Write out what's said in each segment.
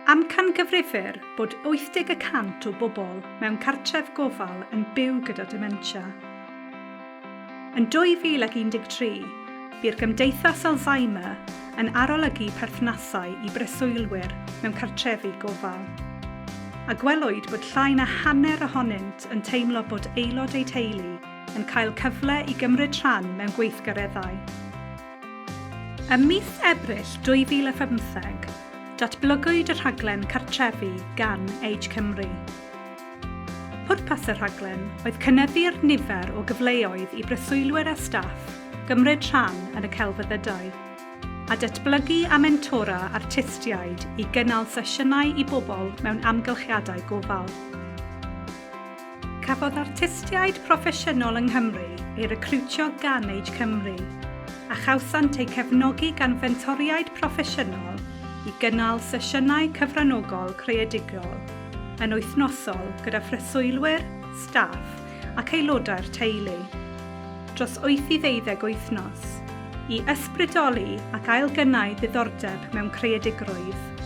Amcangyfrifir bod 80 y cant o bobl mewn cartref gofal yn byw gyda dementia. Yn 2013, bu'r Gymdeithas Alzheimer yn arolygu perthnasau i breswylwyr mewn cartrefi gofal, a gwelwyd bod llai na hanner ohonynt yn teimlo bod aelod eu teulu yn cael cyfle i gymryd rhan mewn gweithgareddau. Ym mis Ebrill 2017, datblygwyd y rhaglen Cartrefi gan Age Cymru. Pwrpas y rhaglen oedd cynyddu'r nifer o gyfleoedd i breswylwyr a staff gymryd rhan yn y celfyddydau, a datblygu a mentora artistiaid i gynnal sesiynau i bobl mewn amgylchiadau gofal. Cafodd artistiaid proffesiynol yng Nghymru ei recriwtio gan Age Cymru, a chawsant eu cefnogi gan fentoriaid proffesiynol i gynnal sesiynau cyfranogol creadigol yn wythnosol gyda phreswylwyr, staff ac aelodau'r teulu, dros wyth i ddeuddeg wythnos, i ysbrydoli ac ailgynnau ddiddordeb mewn creadigrwydd.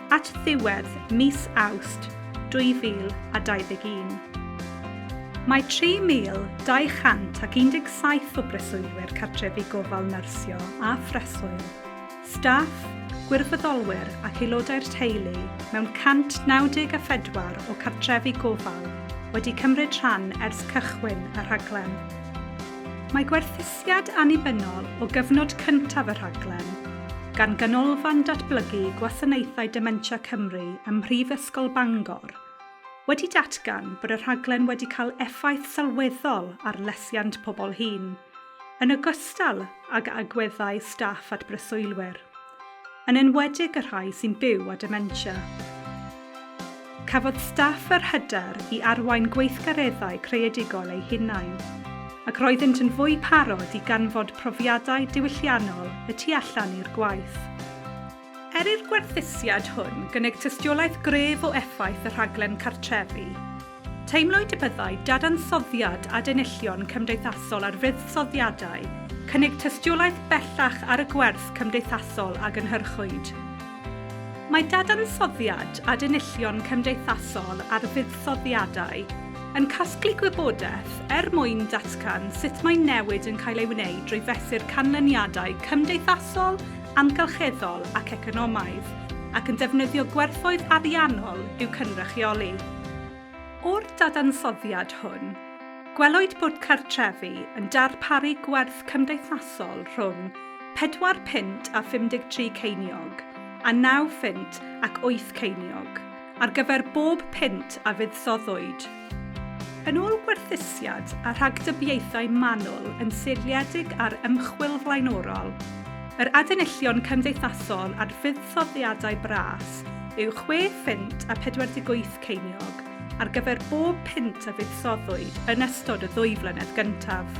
at ddiwedd mis Awst 2021. Mae 3,217 o breswylwyr cartrefi gofal nyrsio a phreswyl, staff, gwirfoddolwyr ac aelodau'r teulu mewn 194 o cartrefi gofal wedi cymryd rhan ers cychwyn y rhaglen. Mae gwerthusiad annibynnol o gyfnod cyntaf y rhaglen, gan Ganolfan Datblygu Gwasanaethau Dementia Cymru ym Mhrifysgol Bangor, wedi datgan bod y rhaglen wedi cael effaith sylweddol ar lesiant pobl hŷn, yn ogystal ag agweddau staff at breswylwyr. yn enwedig y rhai sy'n byw â dementia. Cafodd staff yr hyder i arwain gweithgareddau creadigol eu hunain, ac roeddynt yn fwy parod i ganfod profiadau diwylliannol y tu allan i'r gwaith. Er i'r gwerthusiad hwn gynnig tystiolaeth gref o effaith y rhaglen cartrefi, Teimlwyd y byddai dadansoddiad adenillion cymdeithasol ar fuddsoddiadau cynnig tystiolaeth bellach ar y gwerth cymdeithasol a gynhyrchwyd. Mae dadansoddiad adenillion cymdeithasol ar fuddsoddiadau yn casglu gwybodaeth er mwyn datgan sut mae newid yn cael ei wneud drwy fesur canlyniadau cymdeithasol, amgylcheddol ac economaidd, ac yn defnyddio gwerthoedd ariannol i'w cynrychioli. O'r dadansoddiad hwn, gwelwyd bod cartrefi yn darparu gwerth cymdeithasol rhwng pedwar punt a 53 ceiniog a naw phunt ac wyth ceiniog ar gyfer bob punt a fuddsoddwyd. Yn ôl gwerthusiad a rhagdybiaethau manwl yn seiliedig ar ymchwil flaenorol, yr adenillion cymdeithasol ar fuddsoddiadau bras yw chwe phint a 48 ceiniog ar gyfer bob punt a fuddsoddwyd yn ystod y ddwy flynedd gyntaf.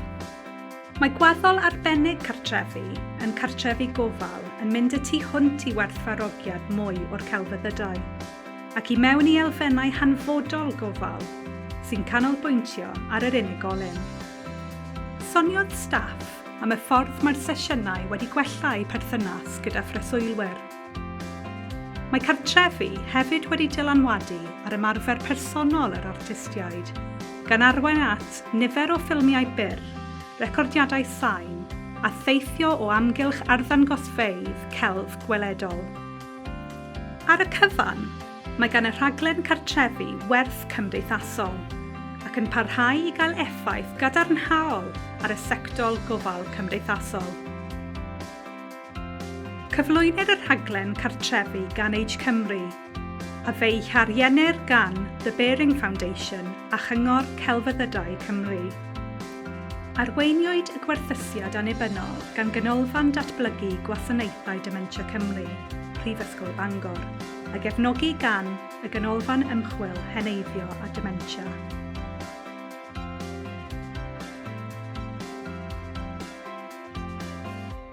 Mae gwaddol arbennig cartrefi yn cartrefi gofal yn mynd y tu hwnt i werthfarogiad mwy o'r celfyddydau, ac i mewn i elfennau hanfodol gofal sy'n canolbwyntio ar yr unigolyn. Soniodd staff am y ffordd mae'r sesiynau wedi gwella eu perthynas gyda phreswylwyr. Mae cartrefi hefyd wedi dylanwadu ar ymarfer personol yr artistiaid, gan arwain at nifer o ffilmiau byr, recordiadau sain, a theithio o amgylch arddangosfeydd celf gweledol. Ar y cyfan, mae gan y rhaglen cartrefi werth cymdeithasol, ac yn parhau i gael effaith gadarnhaol ar y sectol gofal cymdeithasol. Cyflwynir y rhaglen Cartrefi gan Age Cymru, a fe'i hariennir gan The Baring Foundation a Chyngor Celfyddydau Cymru. Arweiniwyd y gwerthusiad annibynnol gan Ganolfan Datblygu Gwasanaethau Dementia Cymru, Prifysgol Bangor, a gefnogi gan y Ganolfan Ymchwil Heneiddio a Dementia.